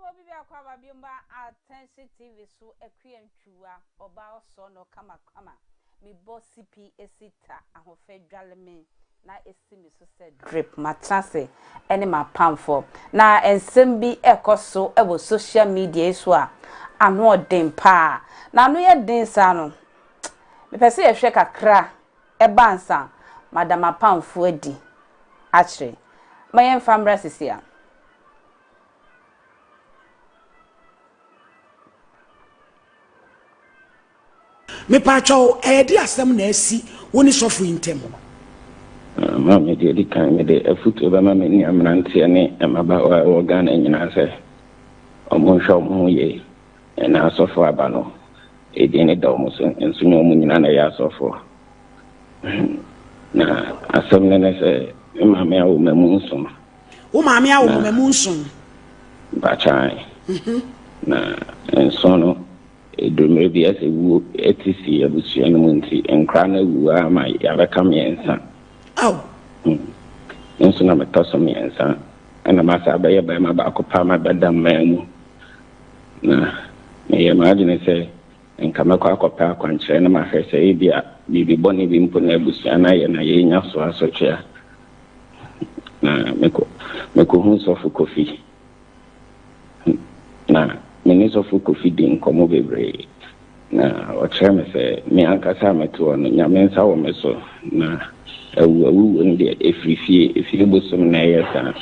Ewɔ bi biako a ba biom ba Atɛnhye TV so Akua Ntwiwa ɔbaa ɔsɔɔ no kama kama Me bɔ sipi esi ta ahofɛ dwale me na esi me so sɛ drip Matena ase ɛne m'apamfo na nsɛm bi ɛkɔ so ɛwɔ social media yi so a ano ɔden paa Na ano yɛ den saa no Me pɛ sɛ yɛ hwɛ kakra ɛba ansa mada m'apamfo adi akyere Ma yɛn fa mmra sisi a. Mepaatwɔw, ɛyɛ de asɛm na asi wo ne sɔfo yi ntam? Ma me deɛ di kan, me de afutuo bɛma me nua mmeranteɛ ne mmabaawa a ɛwɔ Ghana nyinaa sɛ, wɔn nhwɛ wɔn ho yie, ɛna asɔfoɔ aba no, edin no da wɔn so, nso nyɛ wɔn nyinaa na ɛyɛ asɔfoɔ. Na asɛm no ne sɛ, me maame awo mmamu nson, Wo maame awo mma mu nson. Bakyan. Mhm. Na nson no, ɛduru mmerɛ bi ɛsɛ wuo ɛte si abusua no mu nti nkora no awu ara ma yɛabɛka mmiɛnsa. Ao. Hmm. Nso na metɔ so mmiɛnsa ɛna masa abɛyɛ barima baako paa ma bɛda mmaa mu. Na meyɛ m'adwene sɛ nka mɛkɔ akɔpɛ akwankyerɛ na mahwɛ sɛ ebia biribi bɔne bi mpo na abusua no ayɛ na yɛrenya so asotwe a Na mekɔ mekohu sɔfo Kofi. Na me ne sɔfo Kofi di nkɔmmɔ bebree. Na ɔkyerɛ me sɛ me ankasa a mete hɔ no, Nyame nsa wɔ me so. Na awu awuwuo no deɛ ɛfiri fie, efie bosom na ɛyɛ saa.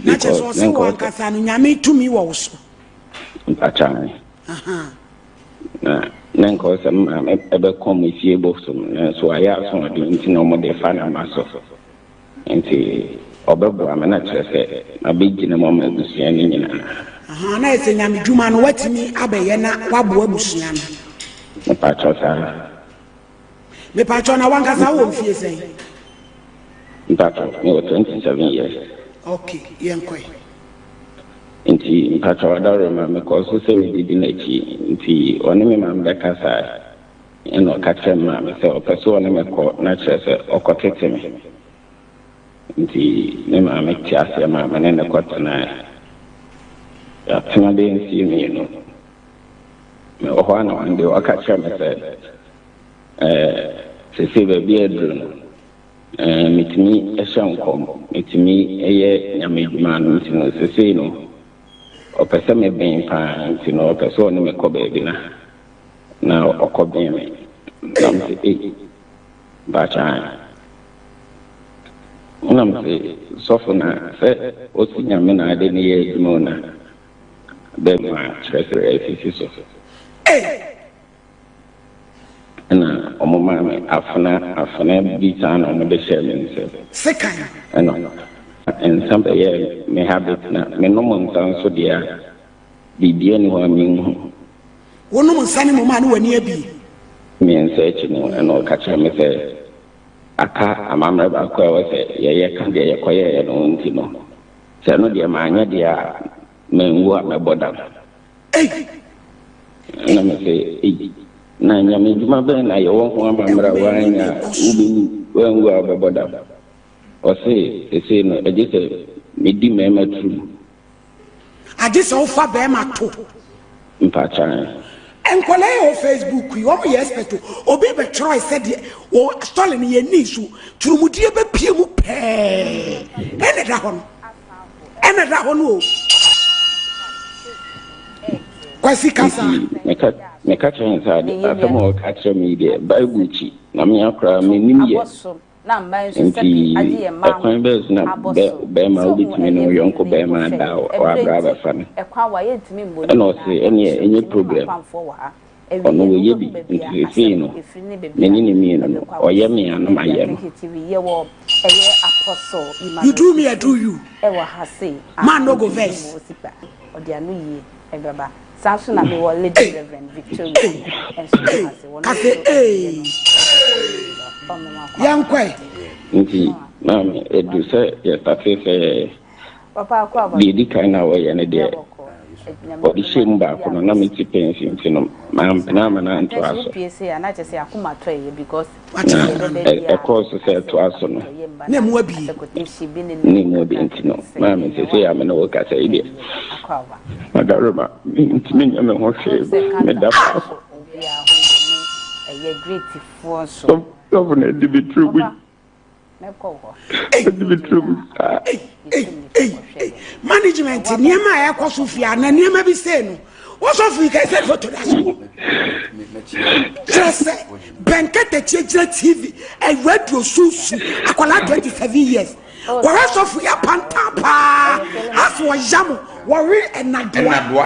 Na kyerɛ sɛ ɔse wo ankasa no Nyame tumi wɔ wo so. Mpakyɛw. Na na nka ɔsɛ me maame ɛbɛkɔ me fie bosom nanso ayɛ asoɔden nti na wɔn de fa na ma so nti ɔbɛboa me na kyerɛ sɛ mabɛgyina mu ama abusua no nyinaa. Ahaa na ɛsɛ nyame dwuma no watumi abɛyɛ na waboa abusua no. Mepakyɛw saa. Mepakyɛw na wankasa wɔ mfie sɛn? Mpakyɛw mewɔ twenty seven years. Okay yɛn kɔe. Nti mpakyɛw ɔdɔrema mekɔɔ so sɛ medidi n'akyi nti ɔne me maame bɛkasae ɛna ɔka kyerɛ me maame sɛ ɔpɛ sɛ ɔne me kɔ na kyerɛ sɛ ɔkɔ tete me nti me maame te aseɛ maa me ne ne kɔ tenae yɛatena bɛyɛ mfie mmienu. mewɔ hɔ anaa ɔnde waka kyerɛ me sɛ ɛɛ sese baabi a aduru no ɛɛ metumi hyɛ nkɔm metumi yɛ nyame adwuma no nti no sese no ɔpɛ sɛ me bɛn paa nti no ɔpɛ sɛ ɔne me kɔ baabi na na ɔkɔ bɛn me na me sɛ ei bakyaan na me sɛ sɔfo na sɛ ɔsi nyame na ade ne yɛ adwuma na bɛma kyerɛkyerɛ afifi so. Ɛnna wɔmaa me afena afena bi saa na wɔde hyɛɛ me nsam. Sekan. Ɛnna nsã bɛyɛɛ me habit na menom nsã nso deɛ a, biribiara nni hɔ a menhu. Wonom nsã no mmom a na w'ani abue. Mmiɛnsa akyi no, ɛnna ɔka kyerɛɛ me sɛ aka amammerɛ baako a ɛwɔ sɛ yɛyɛ ka deɛ yɛkɔyɛeɛ no ho nti no, Sɛ ɛno deɛ manyɛ deɛ a, manwu a mɛbɔ dam. Ei! Na me se, ei, na Nyame adwuma bɛn na yɛwɔ ho amammra woannya a wobɛwu, woanwu a wobɛbɔ dam? Ɔse, sesei no agye sɛ medi mɛɛma turubu. Agye sɛ wofa bɛɛma to. Mpakyɛw. Nkwadaa a wɔ Facebook yi wɔn yɛ expert o. Obi bɛtwerɛe sɛ deɛ wɔ story no yɛn ni so turumudie bɛpie mu pɛɛ ɛna ɛda hɔ no ɛna ɛda hɔ no o. Kwasi kasa. Meka kyerɛ ne sɛ asɛm a ɔka kyerɛ me yi deɛ Bible kyi na mea koraa menim yɛ. Nti, ɛkwan bɛn so na bɛrima a wobɛtumi ne wo yɔnko bɛrima ada a wabrɛ abɛfa no? Ɛnna ɔse, Ɛnneɛ, ɛnyɛ problem. Ɔno, wayɛ bi, nti seesei no, me ne no mmienu no, ɔyɛ me a, na mayɛ no. You do me, I do you, man no go vex. ɛbɛba saa nso na mewɔ lady reverend victoria nso na ase wɔn nso ɛyɛ no yɛnkɔe nti maame ɛdu sɛ yɛstate sɛ deɛ ɛdi kan na wɔyɛ no deɛ wɔde hyɛ mu baako no na mete pɛnsi nti no mampena ama no antoa so pie se a na kyɛ sɛ akoma tɔ ɛyɛ because na ɛkɔɔ so sɛ ɛtoa so no na mu abi ne mu bi nti no maa me sɛ sɛ yɛ me ne wo kasa yi deɛ madaroma mentumi nyɛ me ho hwee meda faako gɔvena adi me tiri gu management nneɛma a ɛkɔ so fie a na nneɛma bi sei no wɔsɔfo yi kɛsɛ foto da so kyerɛ sɛ bɛnkatakyie gyina tv awuraduo susu akwadaa 27 years kɔhwɛ sɔfo yɛ panta paa afo ɔya mo wɔwe ɛnadoa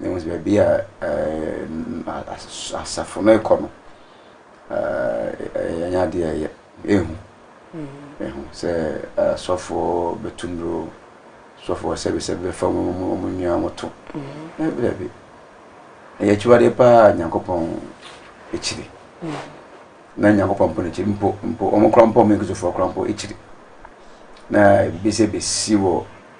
Mehu sɛ baabi a asafo no rekɔ no, ɛnyɛ adeɛ a ɛyɛ ehu. Ehu sɛ asɔfoɔ bɛtu nnuro, asɔfoɔ sɛbesɛbe bɛfa wɔn nnua wɔn to. Daabi daabi, ɛyɛ akyiwadeɛ paa Nyankopɔn akyiri. Na Nyankopɔn mpo n'akyiri mpo mpo wɔn kora mpo wɔn Kristofoɔ kora mpo akyiri. Na ebi sɛ bɛsi wɔ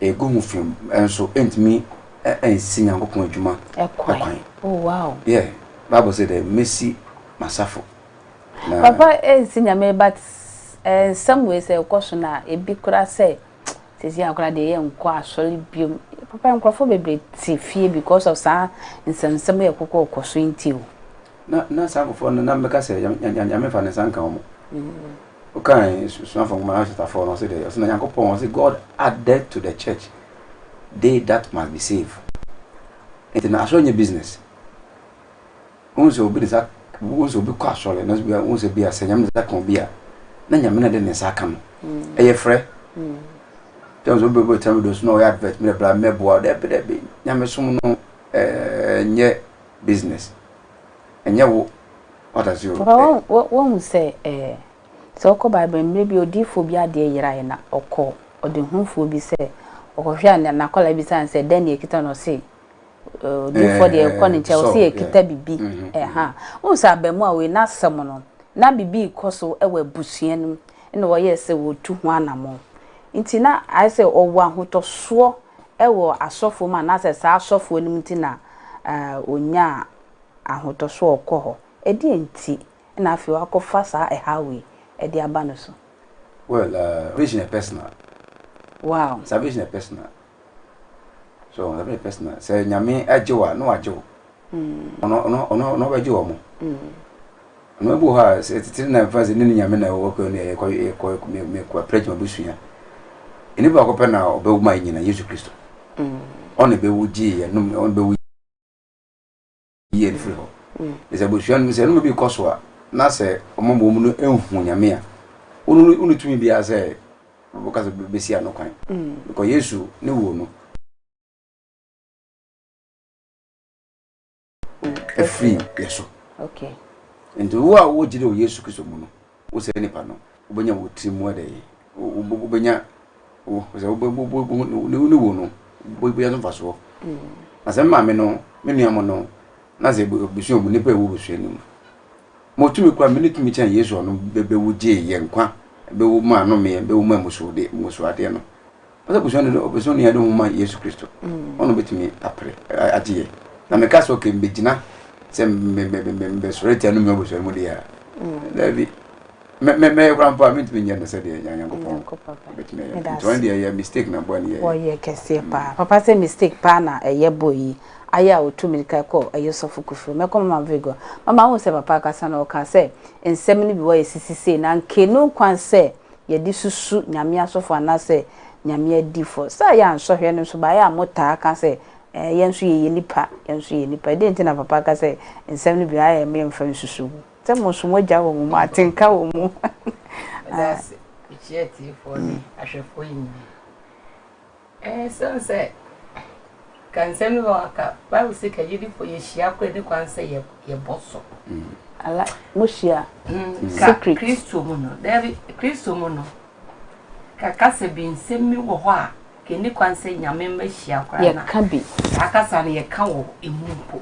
Egu ho fi nso entumi nsi Nyankopɔn adwuma kwan. Oh wow. Yeah, Bible say dɛ mesi m'asafo. Na. Papa ensi Nyame but nsɛm wei sɛ ɛkɔ so na ebi koraa sɛ sɛsi a koraa deɛ yɛ nkɔ asɔre biom. Papa nkorɔfoɔ bebree te fie because of saa nsɛm nsɛm yɛ kɔkɔ ɔkɔ so nti o. Na na saa nkorɔfoɔ no na mɛka sɛ Nyame nfa ne nsa nka wɔn. Wokan Esuafo Nwoma no chapter four no, ɔse dɛ, ɔse na Nyankopɔn, ɔse God added to the church they that must be saved. Enti na asɔre nyɛ business. Wohu sɛ obi ne nsa, wohu sɛ obi kɔ asɔre, nanso bia wohu sɛ bia sɛ Nyame ne nsa ka obi a, na Nyame na ɛde ne nsa aka no. Ɛyɛ frɛ. Tɛm sɛ obi bɛtena video so na ɔyɛ advert, mmerɛ bra mmɛboa, daabi daabi, Nyamesom no ɛnyɛ business. ɛnyɛ wo what as you. Papa woahu sɛ ɛɛ sɛ wokɔ bible mmerɛ bi odiyifoɔ bi adeɛ yeraeɛ na ɔkɔ ɔdehufoɔ bi sɛ ɔkɔhwɛ a nakwadaa bisa no sɛ dɛn na ɛkita no ɔse odiyifoɔ deɛ ɛkɔ ne nkyɛn ɔse ɛkita bibi ɛha wohu sɛ abɛmoa wei n'asɛm no na bibi kɔ so wɔ abusua no mu na wɔyɛ sɛ wɔtu ho anamɔ nti na ayɛ sɛ ɔwɔ ahotɔsoɔ wɔ asɔfoɔ mu anaasɛ saa asɔfoɔ no mu nti na ɔnyaa ahotɔsoɔ a ɔkɔ hɔ. Ɛdeɛn nti na afei wakɔfa saa ɛhaw wei de aba no so? Well, salvation yɛ personal. Wow. Salvation yɛ personal. So, salvation yɛ personal. Sɛ Nyame agye wo a, na wagye wo. ɔno ɔbɛgye wɔn ɔno ebi wɔ hɔ a sɛ titiri na nfa sɛ ne ne nyame na ɛwɔ kɔ ne ɛkɔ ɛkɔ ɛkɔ apɛrɛgye ma busua ɛni baako pɛ na ɔbɛwu ma nyina yesu kristo ɔna ɛbɛwu gye yɛ nom ɔna ɛbɛwu gye yɛ firi hɔ ɛsɛ busua no sɛ ɛnum bi kɔ so a na sɛ ɔmo mu ɔmo no ehu nyame a ɔno ɔno tumi bi asɛ ɔbɛka sɛ bɛsi ano kwan ɛkɔ yesu ne wuo no. ɛfiri yɛ so nti wo a wogyere wɔ yesu kristo mu no wo sɛ nipa no wobɛnya wɔ tiri mu ɛdɛ wobɛnya sɛ wone wo no wobɛnya no mfasoɔ na sɛ mmaame no me nua mo no na sɛ bɛsua mu nipa ɛwɔ bɛsua no mu motumi kora mene tumi kyɛn yesu ɔno bɛwo gyee yɛ nkwa bɛwo ma anomeɛ bɛwo ma musuadeɛ no Ɔsɛ abusua no dɛ ɔpɛ sɛ onua de ho ma Yesu Kristo, ɔno na obetumi apere agye yɛ. Na meka sɛ, okay, mebegyina sɛ mebɛsɔre atia no nua abusua no mu deɛ a, daabi. Mɛyɛ koraa mpo a, mentumi nyɛ no sɛdeɛ Nyankopɔn bɛtumi ayɛ no. Nti ɔno deɛ ɛyɛ mistake na bɔne yɛyɛ. Wɔyɛ kɛseɛ paa. Papa sɛ mistake paa na ɛyɛ boy yi ayɛ a ɔtu mirika kɔ ɛyɛ Ɔsɔfo Kuffour. Mɛkɔ Mama Virgo. Mama wohu sɛ papa akasa no, ɔkaa sɛ nsɛm no bi wɔ a ɛsisi sei na nka ɛnni ho kwan sɛ yɛde susu Nyame asɔfo anaasɛ Nyame adiyifo. Sɛ yɛ a nsɔhwɛ no nso ba, yɛ a motaa ka sɛ, Ɛɛ, yɛn nso yɛyɛ nnipa, yɛn nso yɛyɛ nnipa. Dɛn nti na papa ka sɛ nsɛm no bi, ayɛ me mfa nsusuw ho? Sɛ mo nso moagyaw wɔ mo mu a, atenka wɔ mu. Meda ase mekyia atiefoɔ ne ahwɛfoɔ nyinaa. Esiane sɛ ka nsɛm no wɔ ha ka Bible se ka gyidifo yɛ hyia koro ne kwan sɛ yɛbɔ so. Ala, mohyia secret. Kristo mu no, dabi, Kristo mu no, ka kasa bi nsɛm bi wɔ hɔ a ka ɛni kwan sɛ nyame mma hyia koraa na yɛka bi. Saa kasa no yɛka wɔ emu mpo.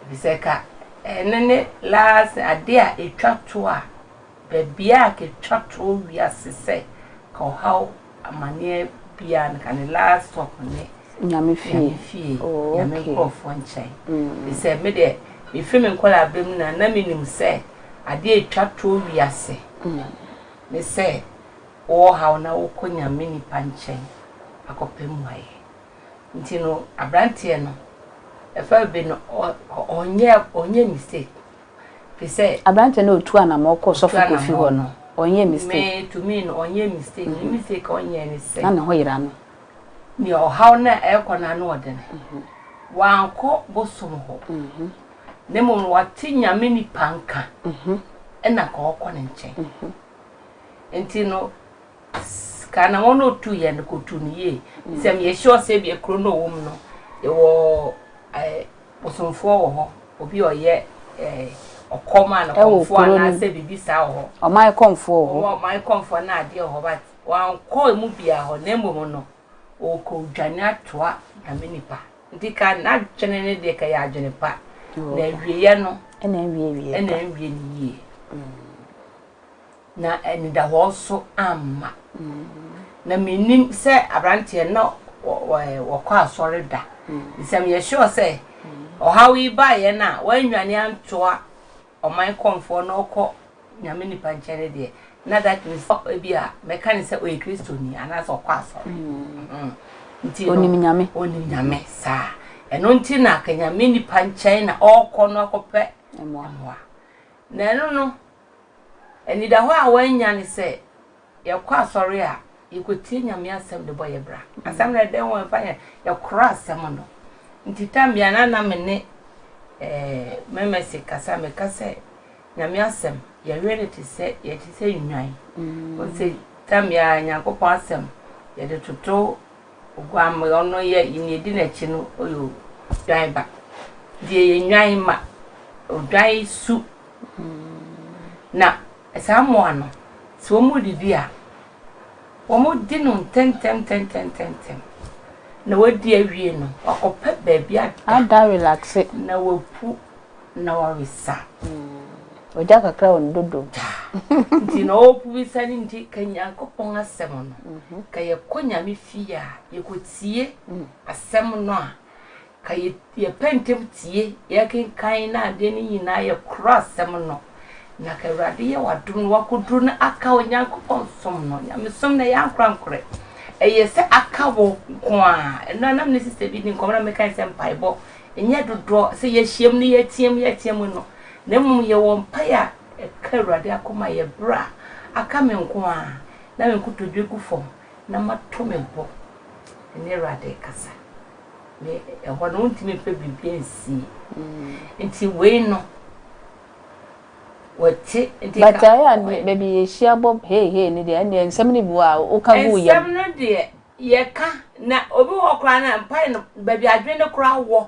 Ebisɛ ka ɛno ne last ade a ɛtwa to a Baabi a ketwa toɔ wiase sɛ ka ɔhaw amaneɛ biaa no ka ne last stop ne Nyame fie Nyame fie Nyame nkorɔfoɔ nkyɛn firi sɛ me deɛ me firi me nkwadaa bɛ mu na na me nim sɛ adeɛ ɛtwa toɔ wiase ne sɛ wo wɔ haw na wo kɔ Nyame nipa nkyɛn akɔ pɛ mmuaeɛ nti no abranteɛ no ɛfa bi no ɔnyɛ ɔnyɛ mistake. te sɛ. Aberanteɛ no a ɔtuu anamɔn kɔɔ Sɔfo Kofi hɔ no, ɔnyɛɛ mistake? Me, to me no, ɔnyɛɛ mistake. Ne mistake a ɔnyɛɛ ne sɛ. Na ne ho yera no. Nea ɔhaw no a ɛrekɔ no ano ɔden no, wankɔ bosom hɔ, na mmom no, wate Nyame nipa nka, ɛna anka ɔrekɔ ne nkyɛn. Enti no. Sika na wɔn a otuu yɛn no kotuu no yie efisɛ meyɛ sure sɛ ebia kuro no a ɔwɔ mu no yɛwɔ ɛɛ bosomfoɔ wɔ hɔ obi a ɔyɛ ɛɛ ɔkɔm a nɔkɔmfoɔ anaasɛ biribi saa wɔ hɔ. Ɔman kɔmfoɔ wɔ hɔ. Ɔman kɔmfoɔ na adeɛ wɔ hɔ but wankɔ emu biara hɔ na mmom no ɔkɔ dwane atoa nyame nipa nti ka n'adwene ne deɛ ka yɛ adwene pa na awieɛ no ɛna nwie ne yie. Na anidahɔ nso amma. Na mennim sɛ aberanteɛ no na ɔkɔ asɔre da. Sɛ meyɛ sure sɛ ɔhaw yi baeɛ no a wannwane antoa ɔman kɔmfoɔ na ɔkɔ Nyame nipa nkyɛn no deɛ, na that means ebi a mɛka ne sɛ ɔyɛ Kristoni anaasɛ ɔkɔ asɔre. Nti no, ɔnim Nyame. Ɔnim Nyame saa. Ɛno nti na ka Nyame nipa nkyɛn na ɔkɔ no akɔpɛ mmoa. Na ɛno no, Anidahɔ a wɔanya ne sɛ yɛkɔ asɔre a, yekotie Nyame asɛm de bɔ yɛn bra. Asɛm no yɛ dɛ o, ɛmfa nyɛ, yɛkorɔ asɛm no. Nti tam bi a na na me ne me Mercy kasa, meka sɛ Nyame asɛm, yɛwe no te sɛ, yɛte sɛ nnwan. Wohu sɛ tam biara Nyankopɔn asɛm, yɛde toto oguamma, ɔno yɛ, nea edi n'akyi no, ɔyɛ odwan ba. Nti yɛyɛ nnwan mma, odwan su. Na saa mmoa no, sɛ wɔredidi a, wɔdi no ntɛmntɛm ntɛmntɛm ntɛmntɛm, na wɔadi awie no, wɔakɔpɛ baabi ada, na wɔapu na wɔresa. Ogya kakra wɔ ne dodom. Nti na ɔɔpu bi sa ne nti ka Nyankopɔn asɛm no. Ka yɛkɔ Nyame fie a, yɛkɔtie asɛm no a, Ka yɛ yɛ pɛ ntɛm tie yɛ kenkan na adeɛ no nyinaa yɛ korɔ asɛm no na ka awurade yɛ wadom no wakɔduru no aka onyankopɔn som no nyamesom na ɛyɛ ankorankorɛ ɛyɛ sɛ aka wo nko a ɛno anam ne sista bi di nkɔm na mekae sɛ mpaebɔ ɛnyɛ dodoɔ sɛ yɛahyiam no yɛatiam yɛatiam no na mmom yɛwɔ mpae a ɛka awurade akoma yɛ berɛ a aka me nko a na me nkotodwe gu fam na mato me bo ne Awurade rekasa. Me, ɛhɔ no, wontumi mfa biribi nsie. Mm. Nti wei no, wɔte nti ka. But ayɛ adeɛ baabi yɛhyia bɔ hei hei ne deɛ ɛnneɛ nsɛm no bi wɔ a woka gu yam. Nsɛm no deɛ yɛka na obi wɔ koraa na mpae no baabi adwene no koraa wɔ.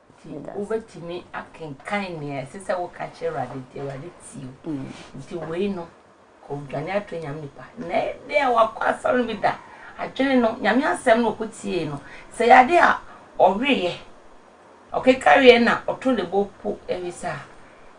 Nti wobɛtumi akenkan nea ɛsɛ sɛ woka kyerɛ Awurade nti Awurade tie wo. Nti wei no, kɔdwane ato Nyame nipa. Na ɛdɛ a wakɔ asɔre no bi da, adwene no, Nyame asɛm no ɔkɔ tiee no, sɛ yɛ ade a ɔweeɛ, ɔkekareɛ na ɔto ne bo po ɛwisa a,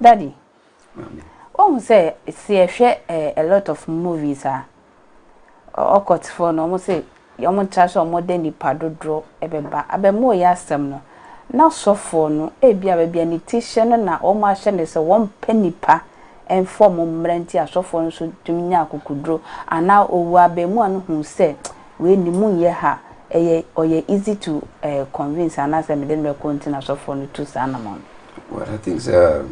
Daddy, wohu sɛ se yɛhwɛ eh, a lot of movies a, ɔkɔtfoɔ no, wɔn se wɔn tra sɛ wɔn de nipa dodoɔ ɛbɛba. Abɛmoo yɛ asɛm no, na sɔfoɔ no, ebia baabi a ne ti hyɛ no na wɔn ahyɛ no sɛ wɔn pɛ nipa ɛnfa wɔn mmra nti asɔfoɔ no nso tumi nya akokoduro, anaa owuo a abɛmoa no huu sɛ Wei ne mu nyɛ ha ɛyɛ ɔyɛ easy to eh convince anaasɛ mede no bɛkɔ nti na sɔfoɔ no tu saa anamɔn no. Well I think sɛ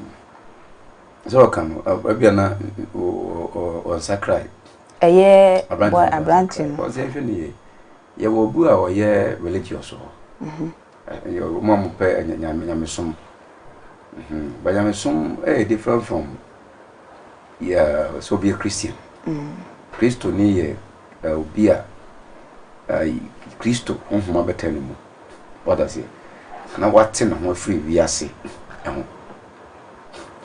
sɛ ɔka no ebia na ɔnsakrae. Ɛyɛ boy aberanteɛ no. Ɔsɛ hwɛ ne yie yɛwɔ obi a ɔyɛ religious wɔ hɔ wɔn a wɔpɛ nyamesom but nyamesom ɛyɛ different from yɛ sɛ obi yɛ Christian Kristoni yɛ obi a Kristo honhom abɛtra ne mu, wate aseɛ, na wate ne ho afiri wiase ho.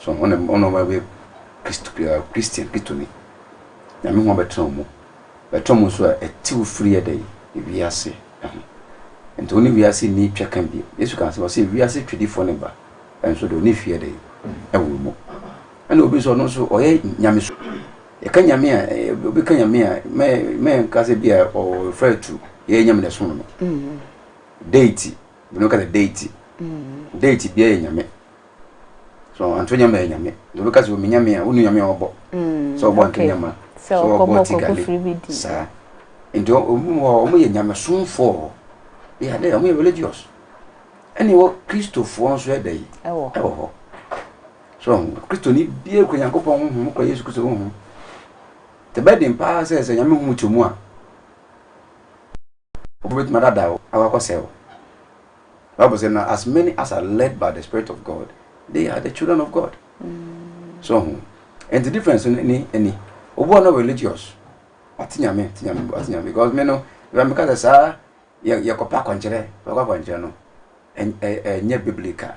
So wɔn na wɔn na wɔbɛyɛ Kristo Kristian Kristoni. Nyame ho abɛtra wɔn mu, bɛtra wɔn nso a ɛte wo firi yɛ dɛ wiase ho. Nti wɔn ne wiase ni twɛ kan bi. Yesu kan sɛ wɔsɛ wiase twɛdifoɔ ne ba nso de wɔn ne hwi yɛ dɛ ɛwɔ mu. Ɛna obi nso ɔno nso ɔyɛ nyamesu. Yɛka Nyame a, eh, obi ka Nyame a, mɛnka sɛ bi a ɔrefer to yɛyɛ Nyame na ɛsom no no. Mm. Deity, binom ka sɛ deity. Mm. Deity bia yɛ Nyame. So anto Nyame yɛ Nyame. Obi ka sɛ omi Nyame a, wonu Nyame a ɔbɔ. Mm. Sɛ ɔbɔ anto Nyama. Sɛ ɔbɔ tigale. Saa. Nti ɔmu hɔ, ɔmu yɛ Nyame somfoɔ. Yɛ adɛ, ɔmu yɛ religious. Ɛne wɔ Kristofoɔ nso ɛdɛ yi. Ɛwɔ hɔ. So ahu? Kristoni biara kura Nyankopɔn honhom, okura Yesu Kristo honhom. Ɛbɛyɛ den paa sɛ sɛ Nyame honhom kyɛ mu a, wobɛtumi adada wo, akɔ akɔsɛe wo. Bible sɛ na as many as are led by the spirit of God, they are the children of God. Mm. So ahu? And the difference ni ni ni. Obu no religious. Ati nyame, ati nyame, ati nyame because me no, ya me kasa saa ya ya kopa kwankyere, kopa kwankyere no. Enye biblical.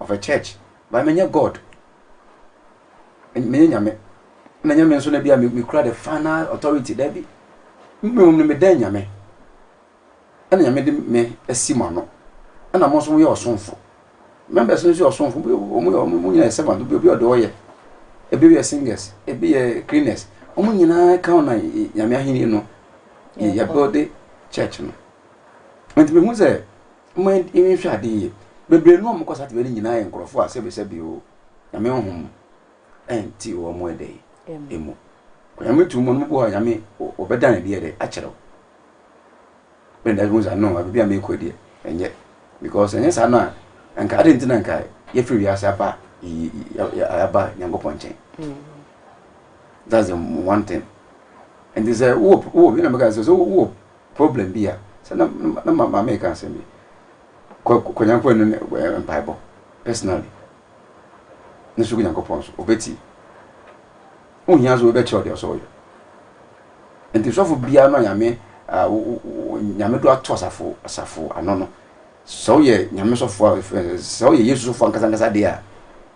of a church but me nyɛ God me nyɛ nyame na nyame nso na bi a me kura the final authority da bi mmom no me dɛn nyame ɛna nyame de me asi ma no ɛna mo nso mo yɛ ɔsomfo members no nso yɛ ɔsomfo wɔn yɛ wɔn nyinaa yɛ servant obi obi ɔde ɔyɛ ebi yɛ singers ebi yɛ cleaners wɔn nyinaa kan na nyame ahenni no yɛ build church no nti mehu sɛ Momma yɛnhwɛ ade yie. Bebree no a wɔkɔ saa tebea no nyinaa yɛ nkurɔfoɔ a sɛbesɛbe o, Nyame honhom nte wɔn ɛdɛ yi mu. Onyame tumi mu no, mobɔ hɔ a Nyame ɔbɛda ne deɛ dɛ akyerɛ wo. Bɛn da wosɛ no, baabi a meekɔ deɛ ɛnyɛ. Because ɛnyɛ saa no a, anka ade nti na anka yɛfiri wiase aba aba Nyankopɔn nkyɛn. Mm. That's the one thing. And this, uh, whoop, whoop, you know, because so whoop. problem bi a, sɛ na na ma maame reka asɛm bi, kɔ kɔ Nyankopɔn anim ne mpaebɔ personally ne so gu Nyankopɔn so, ɔbɛtie. Wohia sɛ wobɛkyerɛw deɛ ɔsɛ ɔyɛ. Nti sɔfo biara no a Nyame a Nyame do ato asafo asafo ano no, sɛ woyɛ Nyame sɔfo a sɛ woyɛ Yesu sɔfo ankasa ankasa deɛ a,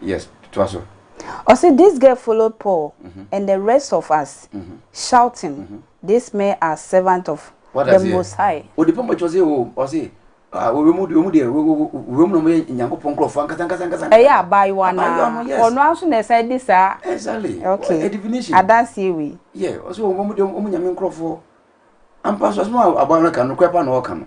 Yes, toa so. Ɔse this girl followed Paul and the rest of us shouting this men are servant of the most high. Ɔde pɔmpɔ kyɛ ɔse o ɔse wɔmu deɛ wɔmu na wɔyɛ nyankopɔn nkurɔfoɔ ankasa ankasa ankasa. Ɛyɛ abaayewa no a ɔno ara nso na ɛsan di saa. Exactly. Okay. Definition. Adanseɛ wei. Yeah ɔse wɔmu deɛ wɔmu nyame nkurɔfoɔ. Ampa so asɛm a abaayewa no ka no korɛ pa na ɔka no.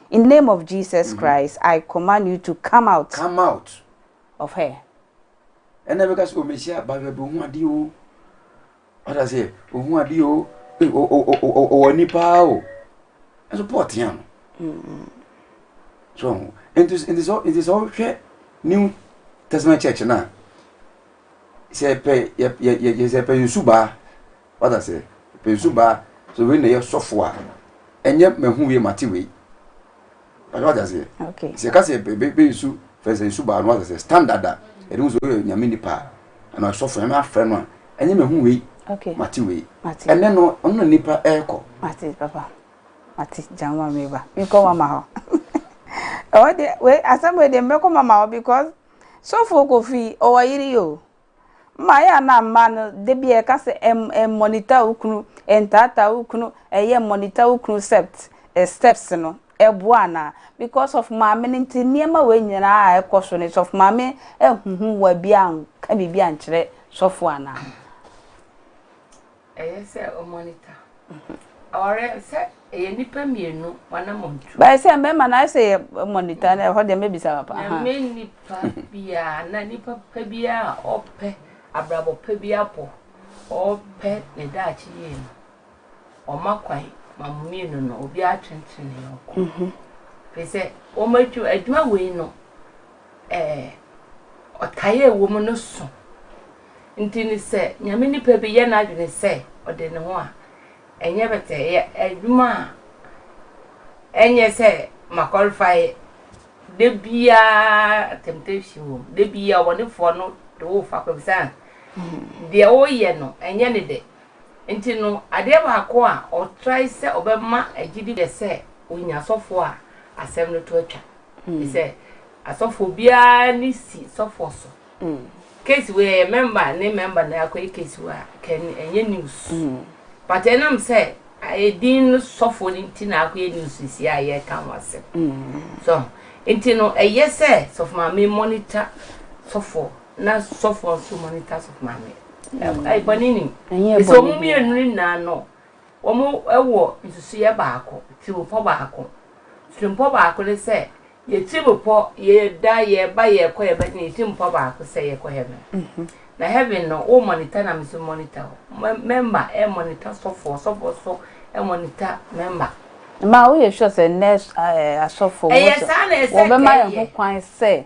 In name of Jesus Christ I command you to come out. Come out. Of her. Ɛna bɛka sɛ ɔmɛhyia bahwɛ bi ɔhu adeɛ o ɔda sɛ ɔhu adeɛ o ɔwɔ ni paa o ɛso paul tea no so nti sɛ wohwɛ new testament church no a sɛ pɛ yɛsɛ pɛ nsu baa Wate aseɛ? Ɔpɛnsu baa sɛ wei na ɛyɛ sɔfo a, ɛnyɛ mahu wei mate wei. Wate aseɛ? Okay. Sɛ ɛka sɛ bɛnsu fɛnsɛ nsu baa no wate aseɛ standard a ɛde hu sɛ woyɛ nyame nipa a anaa sɔfo nyame afrɛ no a ɛnyɛ mahu wei okay. mate wei ɛnɛ no ɔno na nipa ɛrekɔ. Mate papa mate gya ma meba mekɔ mama hɔ ɛwɔ deɛ wei asɛm wei deɛ mɛkɔ mama hɔ because sɔfo kofi ɔwɔ yere yi o Mma ayɛ a na mmaa no da biara ɛka sɛ ɛm ɛmmɔnita wo kunu, ɛntaataa wo kunu, ɛyɛ mmɔnita wo kunu sept steps no ɛboa anaa? Because of maame no nti nneɛma wei nyinaa a ɛkɔ so no sɔfo maame anhuhu wo a biaa anka biribi ankyerɛ sɔfo anaa? Ɛyɛ sɛ o monitor. Awareɛ sɛ ɛyɛ nnipa mmienu w'anamɔntu. Bɛyɛ sɛ mmarima na ayɛ sɛ yɛ monitor na ɛhɔ deɛ mɛbisa papa. Nyame nipa biara na nipa pa biara a ɔpɛ abrabɔ pa bi abɔ ɔpɛ ne daakye yie no ɔma kwan ma mo mmienu no obiara twentwene ne yɔnko. Firi sɛ wɔn adwuma wei no Ɛɛ, ɔtaa a ɛwɔ mu no sõ. Nti no sɛ Nyame nipa bi yɛ n'adwene sɛ ɔde ne ho a, ɛnyɛ pɛtɛɛ, ɛyɛ adwuma a ɛnyɛ sɛ ma qualify da biara temptation wɔ mu, da biara ɔbɔnefoɔ no de wo fa kɔ bisa deɛ woyɛ no ɛnyɛ ne dɛ. Nti no adeɛ baako a ɔtrae sɛ ɔbɛma agyidi yɛ sɛ ɔnya sɔfoɔ a asɛm no to atwa. te sɛ asɔfoɔ biara ani si sɔfoɔ so case wei ɛyɛ member ne member na akɔyɛ case wei a kɛn ɛnyɛ news but ɛnam sɛ ayɛ din no sɔfoɔ no nti na akɔyɛ news si a yɛka ho asɛm so nti no ɛyɛ sɛ sɔfo maame monitor sɔfoɔ na sɔfoɔ nso monitor sɔfo maame ɛbɔne ni ɛsɛ ɔmo mmienu nyinaa no Wɔwɔ nsusuiɛ baako, tirimpɔ baako. Tirimpɔ baako ne sɛ, yɛ tirimpɔ, yɛda, yɛba, yɛkɔ, yɛba, yɛ tirimpɔ baako sɛ yɛkɔ heaven. Mm -hmm. Na heaven no, wo monitor na meso monitor hɔ. Member ɛ eh, monitor sɔfoɔ, sɔfoɔ so ɛ eh, monitor member. Ma woyɛ sure sɛ nɛ asɔfoɔ wɔbɛma yɛn ho kwan sɛ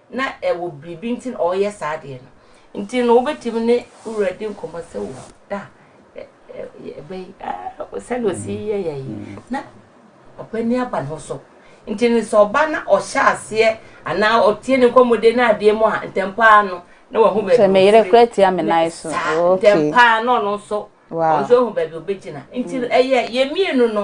Na ɛwɔ biribi nti na ɔreyɛ saa adeɛ no nti no, wobɛtumi ne wo wura di nkɔmmɔ sɛ, O, da ɛbɛ yi, sɛdeɛ ɔsi yɛ yɛ yi, na ɔba ni aba ne ho so. Nti no, sɛ ɔba na ɔhyɛ aseɛ anaa ɔtie ne nkɔmmɔdie no adeɛ mu a, ntɛm paa no, na wahu baabi sɛ meyere kora tia me nan so okay ntɛm paa na ɔno nso ɔno nso ahu baabi ɔbɛgyina nti no ɛyɛ yɛn mmienu no